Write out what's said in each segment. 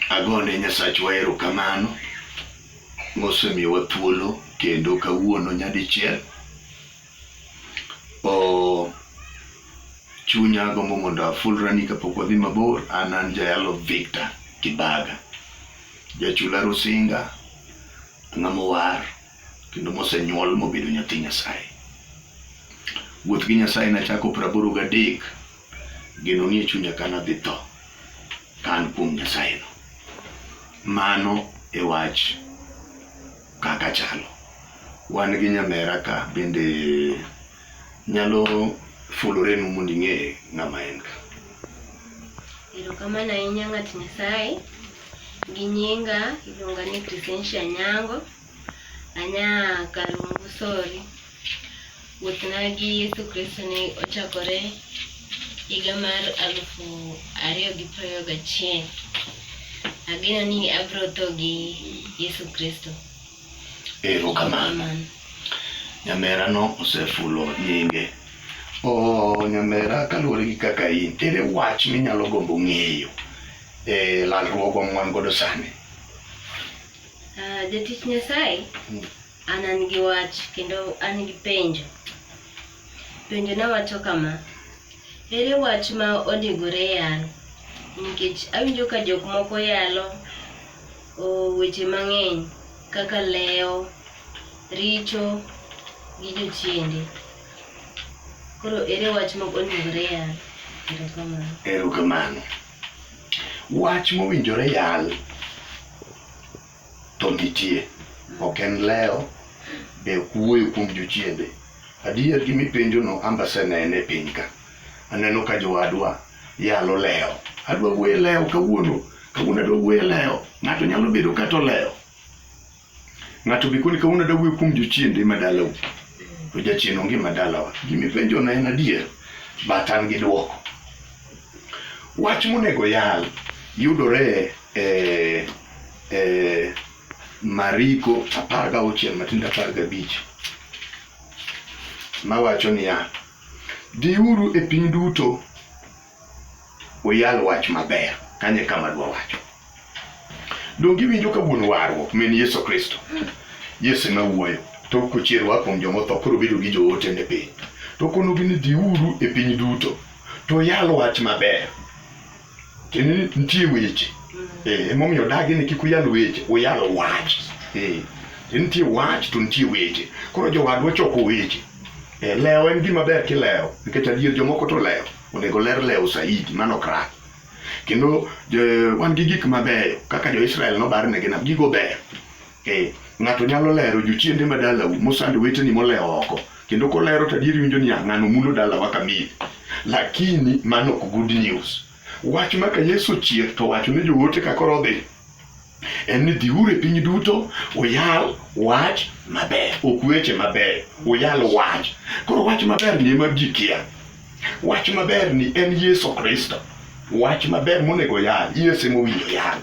Agone Nyasachwa erokamano mosemiyowa thuolo kendo kawuono nyadichiel. Oh, chunya agombo mondo afulrani kapok wadhi mabor. An an jayalo Victor Kibaga, jachula Rusinga, ng'ama owar kendo mosenyuol mobedo nyathi Nyasaye. Wuoth gi Nyasaye nachako praboro gadek Geno nie chunya ka nadhi tho ka an kuom Nyasayeno. Mano e wach kaka chalo. Wan gi nyamera ka bende nyalo fulorenu mondo ing'e ng'ama en ka. Erokamano ahinya ng'at Nyasaye. Gi nyinga iluonga ni Crescencia Nyango. Anya Kalungu Sori. Wuothna gi Yesu Kristo ne ochakore higa mar alufu ariyo gi prariyo gachiel. Ageno ni abro tho gi Yesu Kristo. Erokamano. Nyamerano osefulo nyinge. Oh, nyamera kaluwore gi kaka in, ere wach minyalo gombo ng'eyo e lalruogwa mwan godo sani? Uh, jatich Nyasaye hmm. an an gi wach kendo an gi penjo. Penjo na wacho kama. Ere wach ma onegore yal? Nikech awinjo ka jok moko yalo weche mang'eny kaka lewo, richo gi jochiende. Koro ere wach ma onegore yal? Erokamano. Erokamano. Wach mowinjore yal to nitie, ok en leo be ok wuoyo kuom jochiende. Adier gi mipenjono amba asenene e piny ka, aneno ka jowadwa yalo leo. Adwa wuoyo e leo kawuono, kawuono adwa wuoyo e leo, ng'ato nyalo bedo kata olewo. Ng'ato be koni kawuono da wuoyo kuom jochiende ma dalau. To jachien onge ma dalawa. Gima ipenjo na en adier, but an gi dwoko. Wach monego yal yudore e e Mariko apar ga auchiel matindo apar ga abich mawacho niya, dhiuru e piny duto uyal wach maber kanye kama dwa wacho donge iwinjo ka wuon warruok min yesu kristo yesu ema wuoyo to kochier wa kuom jomotho koro bedo gi joote ne piny to konogi ni dhiuru e piny duto to yal wach maber kendo ni nitie weche Eh, emomiyo odagi ni kik uyal weche uyal wach Eh, nitie wach to nitie weche koro jowadwa choko weche Eh, lewo en gima ber kilewo nikech adier jomoko to lewo onego ler lewo saidi mano krak kendo wan gi gik mabeyo kaka jo-israel nobar ne ginam gigo beyo eh, ng'ato nyalo lero jochiende ma dalau mosando weteni molewo oko kendo kolero to adier winjo niya ng'ano mulo dalawa kamili lakini mano ok good news wach maka yesu chier to wacho ne joote kakoro odhi en ni dhiuru e piny duto uyal wach maber ok weche maber uyal wach koro wach maber ni ema ji kia wach maber ni en yesu kristo wach maber monego yal yesu ema owinjo yal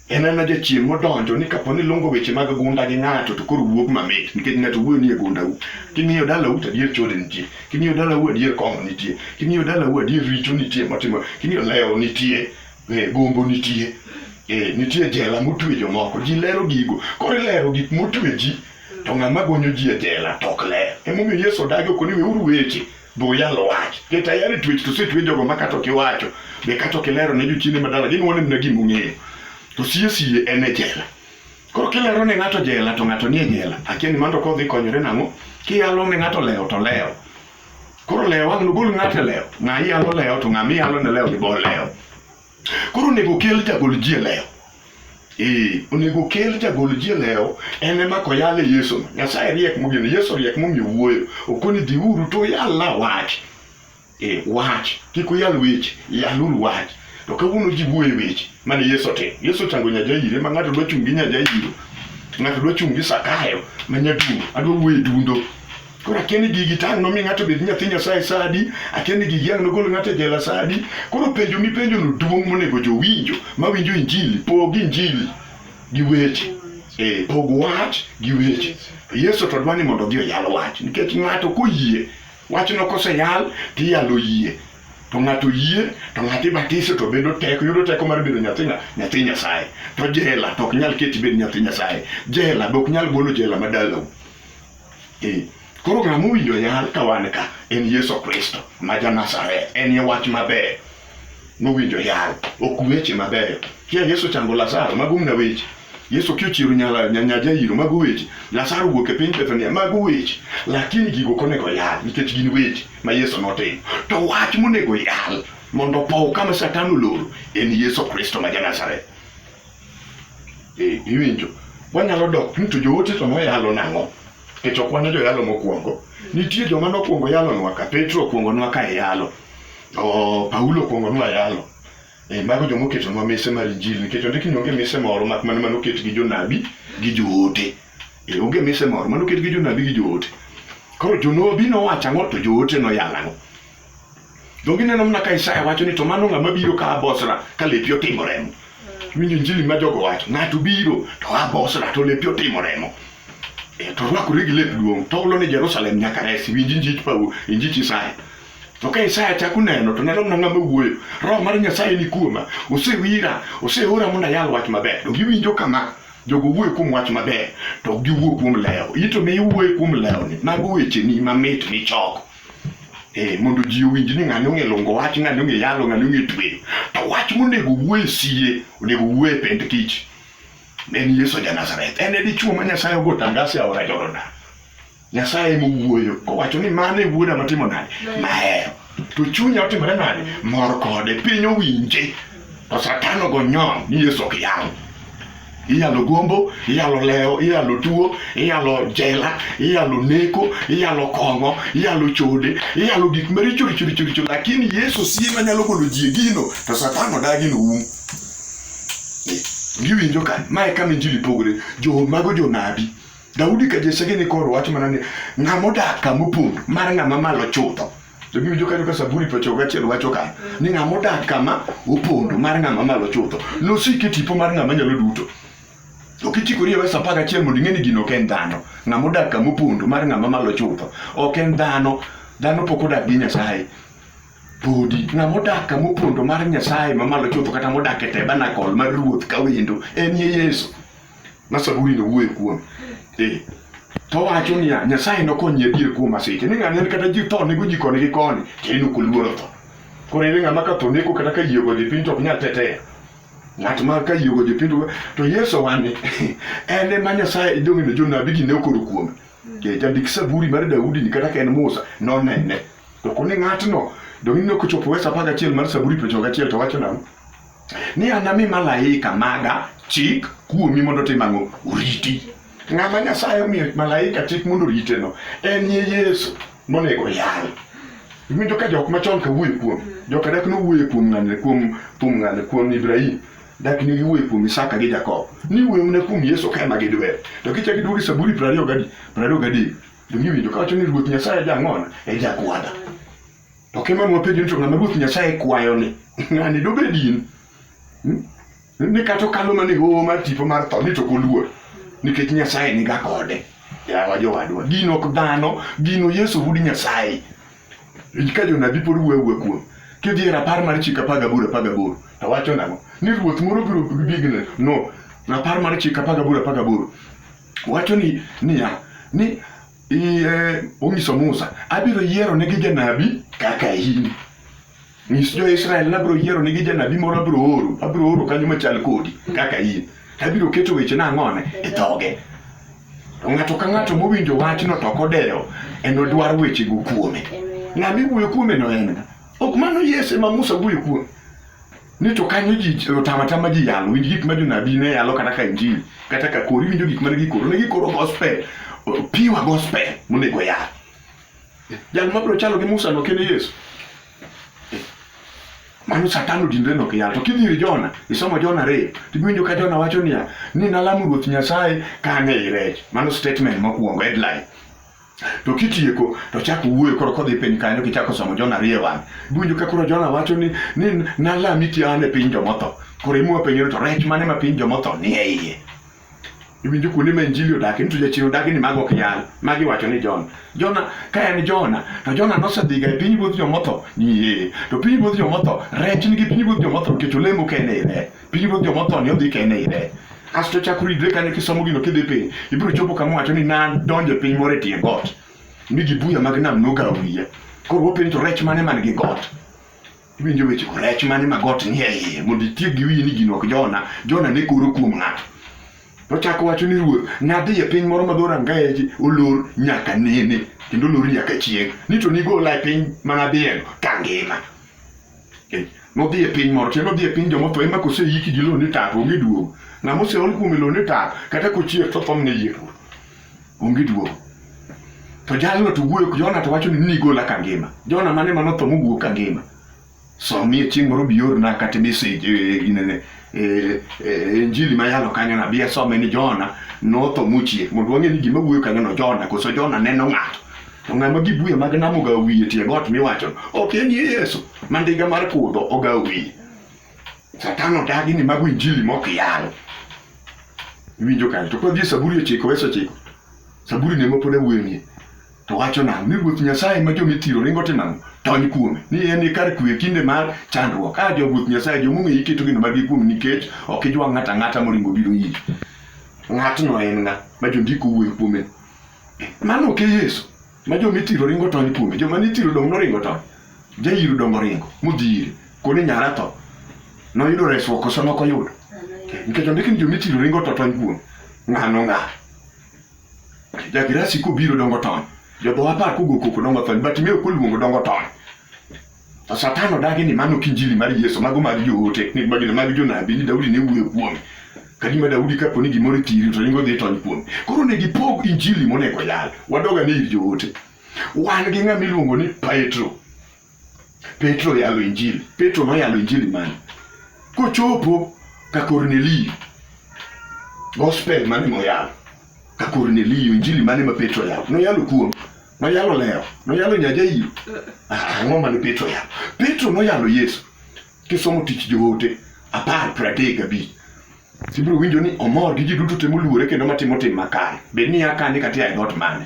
en ana jachien modonjo ni kapo ni lungo weche mag gunda gi ng'ato to koro wuog mamit nikech ng'ato wuoyo nie gundau king'iyo dalau to adier chode nitie king'iyo dalau adier kong'o nitie king'iyo dalau adier richo nitie motimo king'iyo lewo nitie Eh, gombo nitie eh, nitie jela motwe jomoko ji lero gigo koro ilero gik motwe ji to ng'ama gonyo ji e jela to ok ler emomiyo yesu odagi ok ni weuru weche be uyalo wach ket ayare twech to setwe jogo ma kata ok iwacho be kata ok ilero ne jochiende madala ginuone mna gima ung'eyo to sie sie en e jela koro kilero ne ng'ato jela to ng'ato nie jela akia ni mando kodhi konyore nang'o kiyalo ne ng'ato lewo to lewo Koro lewo wang' nogol ng'ato e lewo. Ng'a yalo lewo to ng'a miyalo ne lewo ni bol lewo. Koro onego kel jagol ji e lewo. Ee, onego kel jagol ji e lewo en ema koyale Yesu. Nyasaye riek mogeno, Yesu riek momiyo wuoyo. Okoni dhiuru to uyal la wach. Ee, wach. Kik uyal weche, yaluru wach. To kawuono ji wuoye weche mane Yesu otimo. Yesu ochango nyajaire ma ng'ato dwa chung' gi nyajairo. Ng'ato dwa chung' gi Sakayo ma nyadundo. Adwa wuoye dundo. Koro akia ni gigi tang' nomi ng'ato bed nyathi Nyasaye sa adi, akia ni gigi ang' nogol ng'ato e jela sa adi. Koro penjo mipenjono duong' monego jowinjo mawinjo injili, pog injili gi weche. Eh, pog wach gi weche. Yesu to dwa ni mondo odhi oyal wach nikech ng'ato koyie wachno koseyal tiyalo yie to ng'ato yie to ng'ato ibatiso to bedo teko yudo teko mar bedo nyathi ng'a- nyathi Nyasaye to jela to ok nyal keti bed nyathi Nyasaye jela be ok nyal golo jela ma dalau Eh, koro ng'a mowinjo yal ka wan ka en Yesu Kristo ma ja Nazareth. En ye wach maber mowinjo yal, ok weche mabeyo. Kia Yesu chango Lazaro, mago mna weche. Yesu kiochiero nyala nyanya jairo mago weche. Lazaro wuok e piny Bethania mago weche. Lakini gigo konego yal nikech gin weche ma Yesu notimo. To wach monego yal mondo pow kama Satan oloro en Yesu Kristo ma ja Nazareth. Eh, iwinjo. Wanyalo dok ni to joote to noyalo nang'o? Nikech ok wan joyalo mokwongo. Nitie joma nokwongo yalonwa ka Petro okwongonwa ka e yalo. Oh, Paulo okwongonwa yalo. E, mago joma oketonwa mise mar Injili nikech ondiki ni onge mise moro mak mana mano oket gi jonabi gi joote. E, onge mise moro mano oket gi jonabi gi joote. Koro jonabi nowacho ang'o to joote noyalo ang'o? Donge ineno mana ka Isaya wacho ni to mano ng'ama biro ka abosra ka lepi otimo remo. Winjo injili ma jogo wacho, ng'ato biro to abosra to lepi otimo remo. E, to rwakore gi lep duong' to olo ni Jerusalem nyaka resi, winj injich Paulo, injich Isaya. To ka Isaya chako neno to neno mana ng'ama wuoyo, roho mar Nyasaye ni kuoma, osewira, oseora mondo ayal wach maber. To giwinjo kama, jogo wuoyo kuom wach maber, to ok giwuo kuom lewo. Ito mi iwuoyo kuom lewoni, mago wecheni mamit michoko. Eh, mondo ji owinj ni ng'ani ong'e longo wach, ng'ani ong'e yalo, ng'ani ong'e tweyo. To wach monego wuo e sie, onego wuo e pend kich. Ne en Yesu ja Nazareth. En e dichuo ma Nyasaye ogo tangas e aora Jordan. Nyasaye ema owuoyo kowacho ni mano e wuoda matimo nade mahero to chunya otimore nade mor kode piny owinje to satan ogo nyon ni yesu ok yal iyalo gombo iyalo lewo iyalo tuo iyalo jela iyalo neko iyalo kong'o iyalo chode iyalo gik maricho richo richo richo lakini yesu sie manyalo golo ji e gino to satan odagi no um giwinjo ka mae kama injili pogore jo mago jonabi daudi ka jesege ni koro wach mana ni ng'ama odak kama opondo mar ng'ama malo chutho To giwinjo kanyo ka Zaburi piero gachiel wacho ka ni ng'ama odak kama opondo mar ng'ama malo chutho nosiki tipo mar ng'ama nyalo duto. Ok ichikori e verse apar gachiel mondo ing'e ni gino ok en dhano. Ng'ama odak kama opondo mar ng'ama malo chutho ok en dhano. Dhano pok odak gi Nyasaye podi ng'ama odak kama opondo mar Nyasaye mamalo chutho kata modak e tabernacle mar ruoth ka wendo en ye Yesu. ma Saburi no wuoyo kuom. Eh. To wacho niya, Nyasaye nokonyi adier kuom masiche. Ni ng'ani en kata ji tho nego ji koni gi koni, to en ok oluoro tho. Koro en ng'ama ka tho neko kata ka yie ogoje piny to ok nyal tetea. Ng'at ma ka yie ogoje piny to- to Yesu owani en ema Nyasaye donge ne jonabi gi ne okoro kuome. Eh, Jandik Saburi mar Daudi ni kata ka en Musa nonene. To koni ng'atno donge ne ok ochopo wesa apar gachiel mar Saburi piero ochiko gachiel to wacho nang'o? ni anami malaika maga chik kuomi mondo otim ang'o oriti ng'ama nyasaye omiyo malaika chik mondo oriteno en ye yesu monego yal iwinjo ka jok machon ka wuoye kuom joka dak nowuoye kuom ng'ane kuom kuom ng'ane kuom ibrahim dak ni giwuoye kuom isaka gi jakobo ni wuoye mana kuom yesu ka ema gidwer to kichak iduogo e saburi prariyo gadi prariyo gadek to giwinjo kawacho ni ruoth nyasaye jang'ona e jakwada To kema nwa penjo ni to ng'ama Ruoth Nyasaye kwayo ni, ng'ani dobed in? Hmm? Ni kata okalo mana e hoho mar tipo mar tho ni to ok oluor nikech Nyasaye niga kode. Yawa jowadwa, gin ok dhano, gino Yesu wuod Nyasaye. Ka jonabi pod wuoyo awuoya kuom. Kidhi e rapar mar chik apar gaboro apar gaboro, to wacho nang'o? Ni ruoth moro biro bigni. No, rapar mar chik apar gaboro apar gaboro wacho ni niya, ni iye onyiso Musa, abiro yiero negi janabi kaka in. Nyis jo-Israel nabiro yiero negi janabi moro abiro oro, abiro oro kanyo machal kodi kaka in. Abiro keto weche na ang'one e dhoge. To ng'ato ka ng'ato mowinjo wachno to kodewo, enodwar wechego kuome. Ng'ama iwuoyo kuome no en ng'a? Ok mano Yesu ema Musa wuoyo kuome. ni to kanyo ji otama tama ji yalo winj gik ma jonabi ne yalo kata ka injili kata ka kori winjo gik mane gikoro ne gikoro gospel piwa gospel monego yal jal mabiro chalo gi musa no kene yesu mano satan odinre nok yal to kidhi ir jona isomo jona ariyo tiwinjo ka jona wacho niya ni nalamo ruoth nyasaye ka ang'e i rech mano statement mokwongo headline To kitieko to chak wuoyo koro kodhi piny kanyo kichako somo Jona ariyo wang'. Iwinjo ka koro Jona wacho ni ni nalami ti an e piny jomotho. Koro imwa penjo to rech mane ma piny jomotho ni e iye. Iwinjo kuonde ma injili odake nitu jachien odake ni mago ok yal. Magi wacho ni Jona. Jona ka en Jona to Jona nosedhiga e piny ruodh jomotho ni ee. To piny ruodh jomotho rech nigi piny ruodh jomotho nikech olemo kende e rech. Piny ruodh joma otho ni odhi kende ire. Kasto chako ridre kanyo kisomo gino kidhi piny. Ibiro chopo kama wacho ni nan donjo e piny moro e tie got. Mi gi buya mag nam noga wiye. Koro wapenjo to rech mane man gi got? Iwinjo weche ko rech mane ma got nie iye mondo itiek gi wiyi ni gino ok Jona. Jona ne koro kuom ng'ato. Ochako wacho ni ruoth, nadhi e piny moro ma dho rangaeji olor nyaka nene kendo olor nyaka chieng'. Ni to nigola e piny ma nadhiyeno kangima. Eh, nodhi e piny moro te nodhi e piny joma otho ema koseyiki gi lone tap onge duogo ng'ama oseol kuome lone tap kata kochier to thomne yie to onge duogo to jalno to wuoyo jona to wacho ni nigola ka ngima jona mane manotho mowuok ka ngima somie chieng' moro biorna kata message eh, eh, inene Eh, eh, injili ma yalo kanyo na bia some ni Jona notho muchie mondo wang'e ni gima wuoyo kanyo no Jona koso Jona neno ng'ato to ng'ama gibuya mag namo ga wiye tie got miwacho ok en Yesu mandiga mar kudho oga wiye satan odagi ni mago injili mok yal winjo kanyo to kodhi saburi ochiko weso ochiko saburi ne mopod awuoyo nie to wacho nang'o ni ruoth nyasaye ma joma ithiro ringo timo ang'o tony kuome ni en e kar kwe kinde mar chandruok a jo ruoth nyasaye jomong'e iketo gino margi kuom nikech ok ijwa ng'ato ang'ata moringo biro iri ng'atno en ng'a ma jondiko wuoyo kuome mano ok e yesu ma joma ithiro ringo tony kuome joma nithiro dong' noringo tony jairo dong' oringo modhi ire koni nyara tho noyudo resruok koso nokoyudo nikech ondiki ni joma ithiro ringo to tony kuome ng'ano ng'a Jagirasi kobiro dongo tony. Jodho apar kogo koko dongo tony. Batimeo koluongo dongo tony. To Satan odagi ni mano kinjili mar Yesu, mago mag joote, ni magina mag jonabi, ni Daudi ne wuoyo kuome. Kadima Daudi kapo ni gimoro thiri to ringo dhi tony kuome. Koro ne gipog injili monego yal. Wadoga ni ir joote. Wan gi ng'ama iluongo ni Petro. Petro yalo injili. Petro noyalo injili mane? Kochopo ka Kornelio, gospel mane moyalo ka Kornelio, injili mane ma Petro yalo? Noyalo kuom noyalo leo, noyalo nyajairo. Ah, ang'o mane Petro yalo? Petro noyalo Yesu. Kisomo tich joote apar pradek abich ibiro winjo ni omor gi ji duto te moluore kendo matimo tim makare bed ni akane kata ae dhoot mane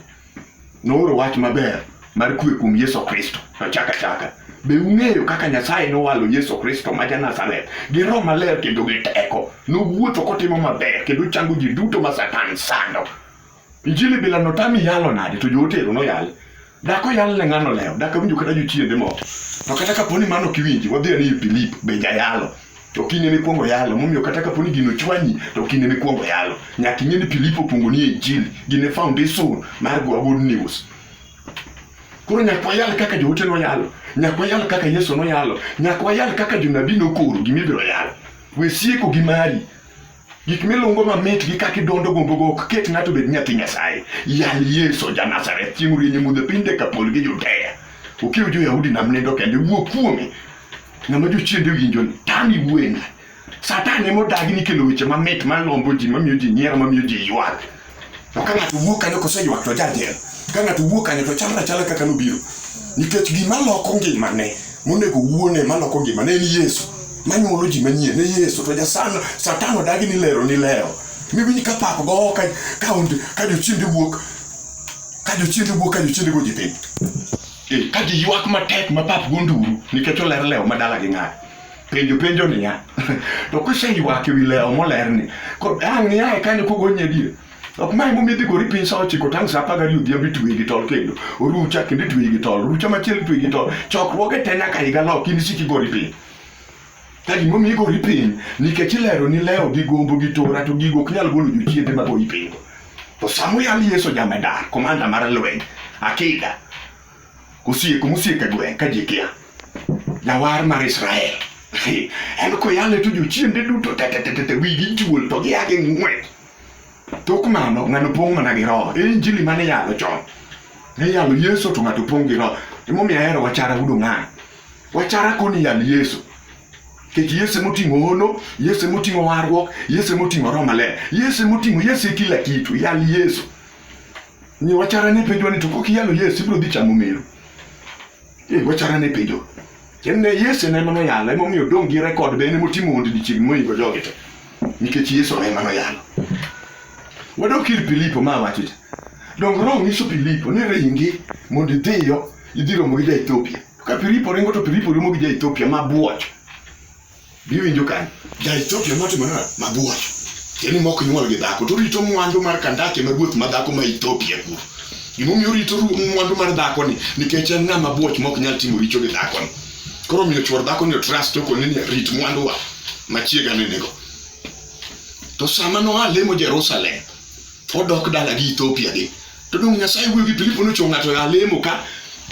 nooro wach maber mar kwe kuom yesu kristo to chaka chaka be ung'eyo kaka nyasaye nowalo yesu kristo ma janazareth gi roho maler kendo gi teko nowuotho kotimo maber kendo chango ji duto ma satan sando Injili bila notami yalo nade to jootero noyal. Dak oyal ne ng'ano lewo, dak awinjo kata jochiende moko. To kata kapo ni mano ok iwinji, wadhi ane ir Filipo, be jayalo. To kinde mikwongo yalo, momiyo kata kapo ni gino chwanyi, to kinde mikwongo yalo. Nyaka ing'e ni Filipo okwongo nie Injili, gin e foundation mar Goa Good News. Koro nyaka wayal kaka joote noyalo, nyaka wayal kaka Yesu noyalo, nyaka wayal kaka jonabi nokoro gima ibiro yalo. We sieko gi mari, Gik milungo mamit gi kaka idondo gombogo ok ket ng'ato bed nyathi Nyasaye. Yal Yesu ja Nazareth chieng' rienye mudho piny Dekapol gi Judea. Ukiw jo-Yahudi nam nindo kendo iwuo kuome. Ng'ama jochiende winjo ni tami wuoyena. Satan ema odagi ni kelo weche mamit malombo ji mamiyo ji nyiero mamiyo ji ywak. To ka ng'ato wuok kanyo koseywak to jajel. Ka ng'ato wuok kanyo to chalre chala kaka nobiro. Nikech gima loko ngimane monego wuone maloko ngimane en Yesu. Manyuolo ji manyien ne Yesu to jasan satan odagi ni lero ni leo. Miwinj ka pap go ka ka onde ka jochiende wuok ka jochiende wuok ka jochiende go ji piny. Eh, ka ji ywak matek ma pap go nduru nikech oler leo madala gi ng'ato. penjo penjo niya to kiseywaak ewi lewo molerni ang' niae kanyo kogonye adier ok mae momi dhi gori piny sa ochiko tang' sa apar gariyo odhiambo itweyi gi tol kendo orucha kendo itweyi gi tol orucha machielo itweyi gi tol chokruoge te nyaka higa lok in isiki gori piny ka gimomi igori piny nikech ilero ni lewo gi gombo gi tora to gigo ok nyal golo jochiende magoyi piny to samoyal yeso jamedar komanda mar lweny akida Kosieko mosieko e gweng' ka ji kia. Jawar mar Israel. En koyale to jochiende duto tetetete wigi juol to gia gi ng'wech. Tok mano ng'ano pong' mana gi roho. E injili mane yalo chon. Ne yalo Yesu to ng'ato pong' gi roho. Emomiyo ahero wachara udo ng'ano. Wachara koni yal Yesu. Kech Yesu emoting'o hono, Yesu emoting'o warruok, Yesu emoting'o roho maler. Yesu emoting'o Yesu e kila kitu. Yal Yesu. Ni wachara ne penjo ni to kok iyalo Yesu ibro dhi chamo meru. Eh wachara ne penjo. Kende Yesu ne mano yalo emo miyo dong gi record be ne motimo ondi dichiegni moingo jogi te. Nikech Yesu ne mano yalo. Wadok ir Filipo ma wacho cha. Dong Roho nyiso Filipo ni ringi mondo idhiyo idhi romo gi ja Ethiopia. Ka Filipo ringo to Filipo romo gi ja Ethiopia ma buoch. Biwinjo kan, ja Ethiopia motimo nana mabuoch. Tieni mok nyuol gi dhako, to rito mwandu mar Kandake ma ruoth ma dhako ma Ethiopia kuro. Gimomiyo rito mwandu mar dhako ni, nikech en ng'ama buoch mok nyal timo richo gi dhako ni. Koro miyo chuor dhako ni trust toko ni rit mwandu wa machiega ni nigo. To sama noa lemo Jerusalem, odok dala gi Ethiopia gi. To dong' Nyasaye wuoyo gi Filipo ni ochung' ng'ato ya lemo ka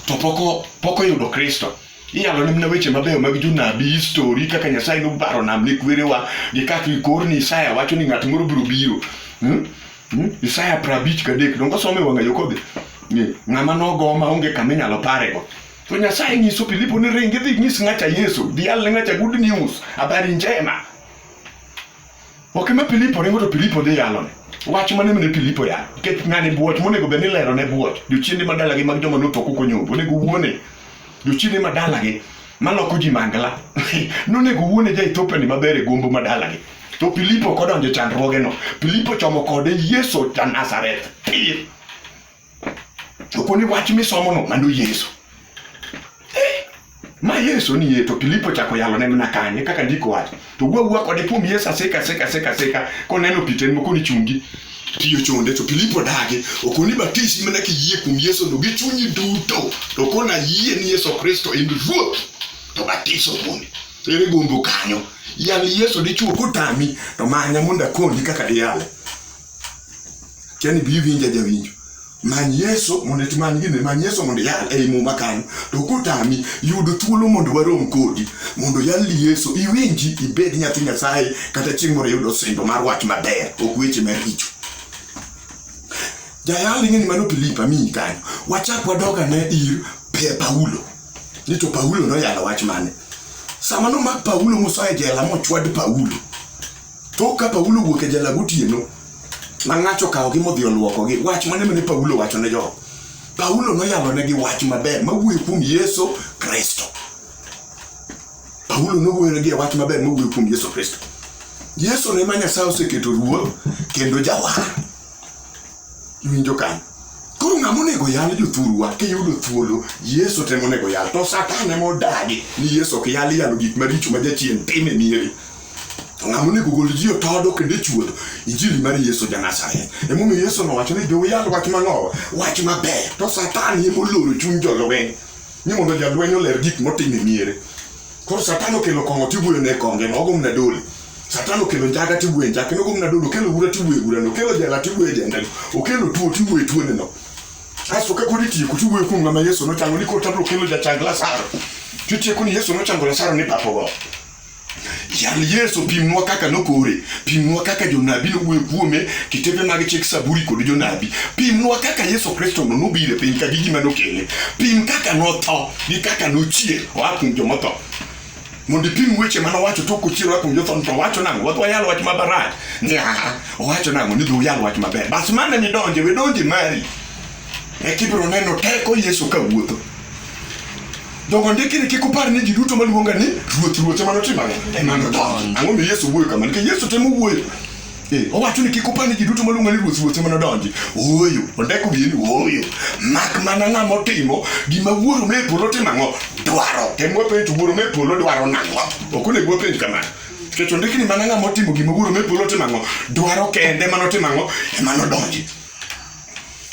to poko poko yudo Kristo. iyalo ne mna weche mabeyo mag jonabi histori kaka nyasaye nobaro nam ne kwerewa gi kaka ikor ni isaya wacho ni ng'at moro biro biro hmm? Hmm? isaya prabich kadek dongo some wang'ayo kodhi ng'ama nogo ma onge kama inyalo parego to nyasaye nyiso filipo ni ringi dhi nyis ng'acha yesu dhial ne ng'acha good news habari njema Ok ma Filipo ringo to Filipo dhi yalone. Wach mane mene Filipo ya? Nikech ng'ani buoch monego bed ni lero ne buoch. Jochiende madalagi mag joma notho koko nyombo onego wuone. Jochiende madalagi maloko ji mangla. Nonego wuone ja Ethiopia ni maber e gombo madalagi. To Filipo kodonjo chandruogeno. Filipo chomo kode Yesu ja Nazareth. Pir. chopo ni wach misomono mano Yesu. Eh, ma Yesu ni ye to Filipo chako yalo ne mana kanye kaka ndiko wach. To gwa gwa kode pum Yesu aseka seka seka seka koneno piten moko ni chungi tiyo chonde to Filipo dage okoni batisi mana kiyie kuom Yesu no gi chunyi duto to kona yie ni Yesu Kristo en ruoth to batiso kuome ere gombo kanyo yal Yesu dichuo kutami to manya mondo akonyi kaka diyale Tiani bi winja jawinjo. Many Yesu mondo itmany gini, many Yesu mondo iyal ei muma kanyo. To kotami, yud thuolo mondo warom kodi, mondo yalni Yesu, iwinji, ibed nyathi Nyasaye, kata chieng' moro iyudo singo mar wach maber, ok weche maricho. Jayal ing'e ni mano Filipo amiyi kanyo. Wachak wadog ane ir Paulo. Ni to Paulo noyalo wach mane? Sama nomak Paulo mosoye jela mochwad Paulo, Tok ka Paulo wuok e jala gotieno, ma ng'ato okawogi modhi olwokogi, wach mane mane Paulo wacho ne jogo? Paulo noyalonegi wach maber mawuoyo kuom Yesu Kristo. Paulo nowuoyonegi e wach maber mawuoyo kuom Yesu Kristo. Yesu ne ma Nyasaye oseketo ruoth kendo jawar. Iwinjo kanyo? Koro ng'ama onego yal jothurwa kiyudo thuolo Yesu temo onego yal to Satan ema odagi ni Yesu ok yal yalo gik maricho ma jachien time mieri. ng'ama onego gol ji otodo kendo chuodho injili mar yesu ja nazareth emomiyo yesu nowacho ni jouyal wach mang'owa wach maber to satan ema oloro chuny jolweny ni mondo jalweny oler gik motimo e miere koro satan okelo kong'o tibuyo ne konge ma ogomna dole satan okelo njaga tibuye njake nogomna dole okelo ura tibuye urano okelo jela tibuye jendano okelo tuo tibuye tuoneno aso ka kodi tieko tibuye kuom ng'ama yesu nochango ni koro tabro kelo jachang lasaro titieko ni yesu nochango lasaro ni papogo Yal Yesu pimnwa kaka nokore, pimnwa kaka jonabi nowuoyo kuome, kitepe mag chik Saburi kod jonabi. Pimnwa kaka Yesu Kristo no nobiro e piny ka gi gima nokele. Pim kaka notho gi kaka nochier oa kuom joma tho. Mondo ipim weche mane owacho to ok ochier oa kuom jotho to owacho nang'o? Wadwa yalo wach mabarach. Ni aha, owacho nang'o ni dhi uyal wach maber. Bas mane midonje, we donje mari. Eka ibiro neno teko Yesu ka wuotho. Dongo ndiki ni kik upar ni ji duto maluonga ni ruoth ruoth ema notim ang'o? Ema nodonji. Ang'o mi Yesu wuoyo kama? Nikech Yesu temo wuoyo. Eh, owacho ni kik upar ni ji duto maluonga ni ruoth ruoth ema nodonji. Ooyo, ondeko biye ni ooyo. Mak mana ng'ama otimo gima wuoro me polo timo ang'o? Dwaro. Tem wapenj to wuoro me polo dwaro nang'o? Ok onego wapenj kamano. Nikech ondiki ni mana ng'ama otimo gima wuoro me polo timo ang'o? Dwaro kende ema notimo ang'o? Ema nodonji.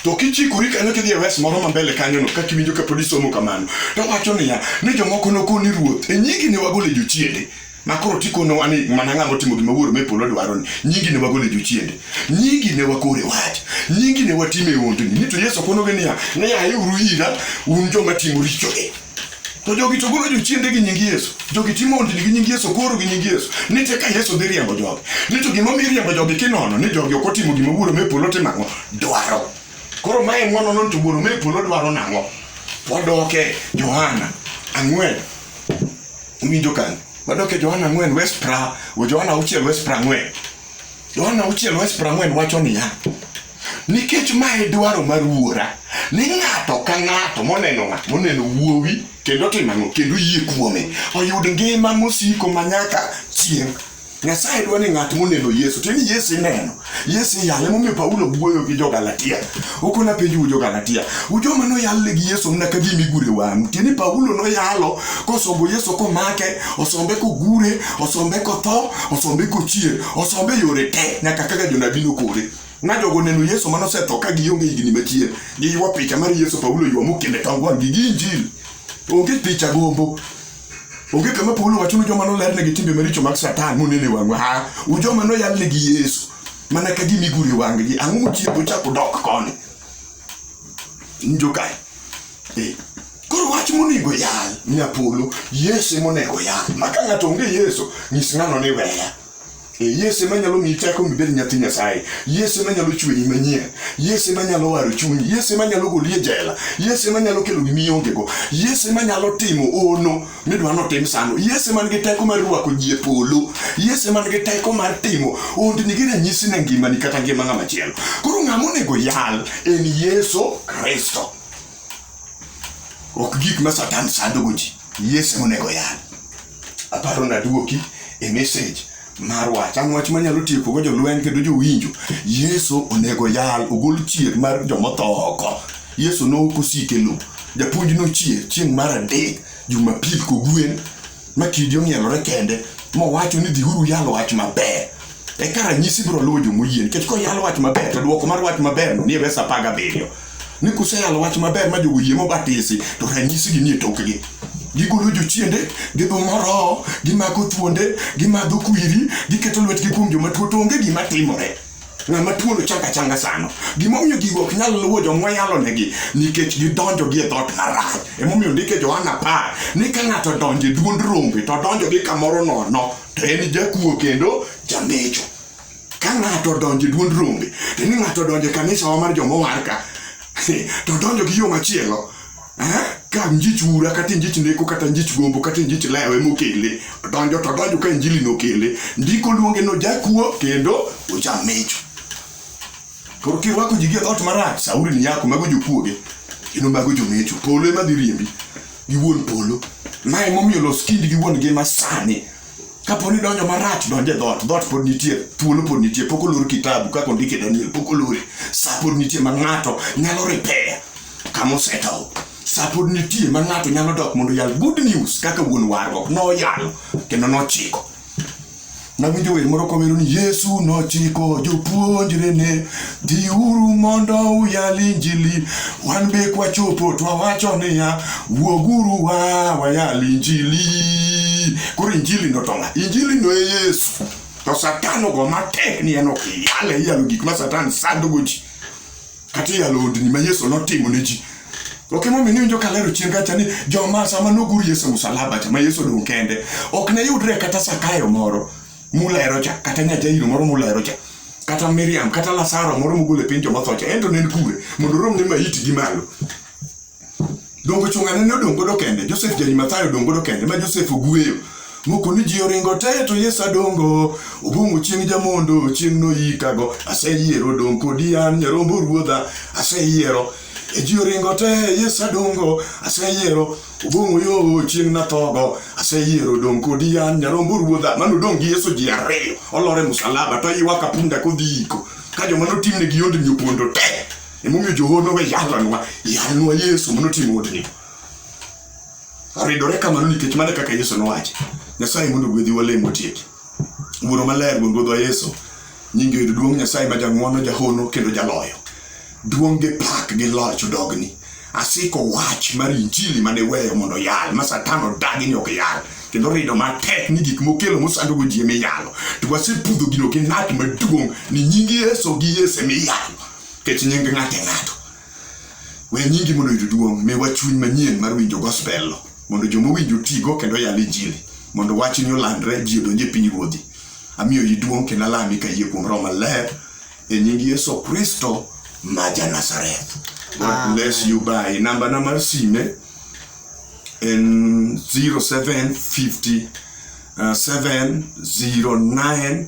To kichikori kanyo kidhi e wes moro ma mbele kanyono kaka iwinjo kapod isomo kamano, to wacho niya ni jomoko nokoni ruoth e nyingi ne wagolo e jochiende ma koro tikonowa ni mana ng'ama otimo gima wuoro me polo dwaro ni nyingi ne wagolo e jochiende nyingi ne wakore wach nyingi ne watime ondni ni to yesu konogi niya ni ayeuru ira un joma timo richogi To jogi to golo jochiende gi nying Yesu. Jogi timo ondini gi nying Yesu, koro gi nying Yesu. Ni te ka Yesu dhi riembo jogi. Ni to gima omiyo riembo jogi kinono ni jogi ok otimo gima wuoro me polo timo ang'o? Dwaro. Koro mae ng'wono non to wuoro me polo dwaro nang'o? Wadoke Johana ang'wen. Uwinjo kanyo? Wadoke Johana ang'wen West pra, Johana auchiel West pra ang'wen. Yohana auchiel wach prang'wen wacho niya, nikech ma e dwaro mar wuora ni ng'ato ka ng'ato moneno ng'at moneno wuowi kendo otimo ang'o kendo yie kuome oyud ngima mosiko ma nyaka chieng' nyasaye dwa ni ng'at moneno yesu to ni yesu ineno yesu iyale momiyo paulo wuoyo gi jogalatia okona penjou jogalatia ujoma noyalne gi yesu mna ka gima igure wang'u tieni paulo noyalo kosombo yesu komake osombe kogure osombe kotho osombe kochier osombe yore te nyaka kaka jonabi nokore na jogo neno yesu mane osetho ka gionge higni machien giywa picha mar yesu paulo ywa mokende tong wang' gi ginjil onge picha gombo onge kama paulo wacho ni joma nolernegi timbe maricho mag satan monene wang'wa ha u joma noyalnegi yesu mana ka gimigure wang'gi ang'o mochiego chako dok koni njokae Eh, Koro wach monego yal nyapolo, Yesu ema onego yal. Ma ka ng'ato onge Yesu, nyis ng'ano ni weya. Eh, Yesu ema nyalo miyi teko mibed nyathi Nyasaye. Yesu ema nyalo chweyi manyien. Yesu ema nyalo waro chunyi. Yesu ema nyalo goli e jela. Yesu ema nyalo kelo gimi ongego. Yesu ema nyalo timo ono midwa notim sano. Yesu ema nigi teko mar rwako ji e polo. Yesu ema nigi teko mar timo hondni gi ranyisi ne ngimani kata ngima ng'ama chielo. Koro ng'ama onego yal en Yesu Kristo. ok gik ma satan sandogo ji yesu monego yal aparo naduoki e message mar wach an wach manyalo tiekogo jolweny kendo jowinjo yesu onego yal ogol chier mar jomotho oko yesu nokosike lo japuonj nochier chieng' mar adek jumapil kogwen ma kidi ong'ielore kende mowacho ni dhiuru yalo wach maber eka ranyisi biro luwo jo moyie nikech koyalo wach maber to dwoko mar wach maber no nie verse apar gabiriyo ni kuseyalo wach maber ma jogo yie mobatisi to ranyisi gi nie tokgi gigolo jochiende gidhumo roho gimako thuonde gimadho kwiri giketo lwetgi kuom joma tuo to onge gima timore ng'ama tuono changa changa sano gimomiyo gigo ok nyal luwo joma yalonegi nikech gidonjo gi e dhot marach emomiyo ndike johana apar ni ka ng'ato donjo e duond rombe to donjo gi kamoro nono to en jakuo kendo jamecho ka ng'ato donjo e duond rombe to ni ng'ato donjo e kanisawa mar joma warka to donjo gi yo machielo ka njich ura kata njich neko kata njich gombo kata njich lewe mokele donjo to donjo ka injili nokele ndiko luonge no jakuo kendo ojamecho koro kirwako ji gi dhot marach sauri ni nyako mago jokuoge kendo mago jomecho polo ema dhi riembi gi wuon polo ma emomiyo los kindi gi wuon ngima sani kapo ni donjo marach donjo e dhot dhot pod nitie thuolo pod nitie pok olor kitabu kaka ondike daniel pok olore sa pod nitie ma ng'ato nyalo repair kama osetow sa pod nitie ma ng'ato nyalo dok mondo yal good news kaka wuon warruok noyalo kendo nochiko nawinjo wer moro kowero ni yesu nochiko jopuonjrene dhiuru mondo uyal injili wan be kwachopo twawacho niya wuoguru wa wayal injili koro injili notong'a injili no e yesu to satan ogo matek ni en ok iyale iyalo gik ma satan sandogo ji kata iyalo odni ma Yesu notimo ne ji. Ok emomiyo niwinjo ka lero chien kacha ni joma sama nogur Yesu e musalaba cha ma Yesu odong' kende ok ne yudre kata Sakayo moro mulero cha kata Nyajairo moro mulero cha kata Miriam kata Lazaro moro mogol e piny joma tho cha en to ne en kure mondo oromne maiti gi malo. Dongo chungane ne odong' godo kende, Joseph Jarimathayo odong' godo kende, ma Joseph ogweyo. Moko ni ji oringo te to Yesu adongo, obong'o chieng' jamondo, chieng' noyikago, aseyiero odong' kodi an nyarombo ruodha, aseyiero. E ji oringo te, Yesu adongo, aseyiero, obong'o yo chieng' nathogo, aseyiero odong' kodi an nyarombo ruodha. Mano odong' gi Yesu ji ariyo, olore musalaba to ywak apunda kodhi iko. Ka joma notimne gi yondni opondo te, Emomiyo joono we yalanwa, yalnwa Yesu mondo otim hotni. Aridore kamano nikech mano kaka Yesu nowacho. Nyasaye mondo gwedhi walemo tieki. Wuoro maler wuon Ruodhwa Yesu, nyingi oyud duong' Nyasaye ma jang'wono, jahono kendo jaloyo. Duong' gi pak gi loch odogni. Asiko wach mar injili mane weyo mondo yal, ma satan odagi ni ok yal. kendo rido matek ni gik mokelo mosandogo ji emiyalo to wasepudho gino gi nat maduong' ni nying yeso gi yesu emiyalo Ket nying ng'ato e ng'ato. We nyingi mondo oyud duong', miwa chuny manyien mar winjo gospel no, mondo joma owinjo tigo kendo yal injili, mondo wachni olandre ji odonje piny ruodhi. Amiyo yi duong' kendo alami ka yie kuom roho maler e nying Yesu Kristo ma ja Nazareth. God bless you bye. Namba na mar sime en 0750 uh, 709